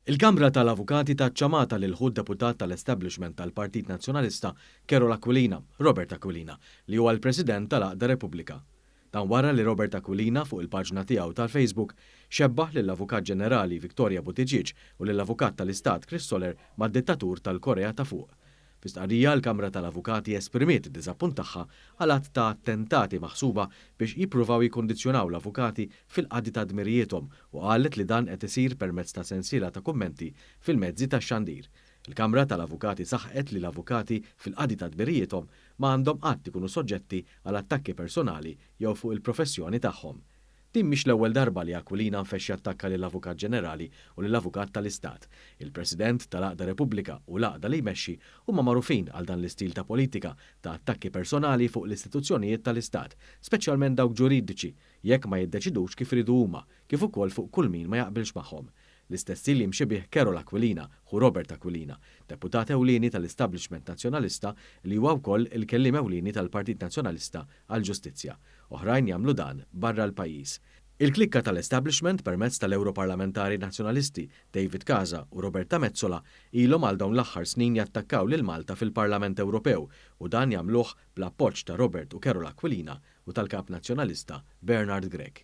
Il-Kamra tal-Avukati tat ċamata lil ħu d-deputat tal-establishment tal-Partit Nazzjonalista Carol Aquilina, Robert Aquilina, li huwa l-President tal-Għaqda Repubblika. Dan wara li Robert Aquilina, fuq il-paġna tiegħu tal-Facebook, xebbah lill-Avukat Ġenerali Victoria Buttigieg u lill-Avukat tal-Istat Chris Soler mad-dittatur tal-Korea ta' Fuq. Fi stqarrija, il-Kamra tal-Avukati esprimiet id-diżappunt tagħha għal għadd ta' attentati maħsuba biex jippruvaw jikkundizzjonaw l-avukati fil-qadi ta' dmirijiethom u qalet li dan qed isir permezz ta' sensiela ta' kummenti fil-mezzi tax-xandir. Il-Kamra tal-Avukati saħqet li l-avukati fil-qadi ta' dmirijiethom ma għandhom qatt ikunu soġġetti għal attakki personali jew fuq il-professjoni tagħhom. Din mhix l-ewwel darba li Aquilina nfexx jattakka lill-Avukat Ġenerali u lill-Avukat tal-Istat. Il-President tal-għaqda Repubblika u l-għaqda li jmexxi huma magħrufin għal dan l-istil ta' politika ta' attakki personali fuq l-istituzzjonijiet tal-Istat, speċjalment dawk ġuridiċi, jekk ma jiddeċidux kif iridu huma, kif ukoll fuq kull min ma jaqbilx magħhom. L-istess hi li mxi bih Carol Aquilina, ħu Robert Aquilina, deputat ewlieni tal-establishment Nazzjonalista li huwa wkoll il-kelliem ewlieni tal-Partit Nazzjonalista għall-Ġustizzja. Oħrajn jagħmlu dan barra l-pajjiż. Il-klikka tal-establishment permezz tal-Ewroparlamentari Nazzjonalisti David Casa u Roberta Metsola ilhom għal dawn l-aħħar snin jattakkaw lil Malta fil-Parlament Ewropew u dan jagħmluh bl-appoġġ ta' Robert u Carol Aquilina u tal-Kap Nazzjonalista Bernard Grech.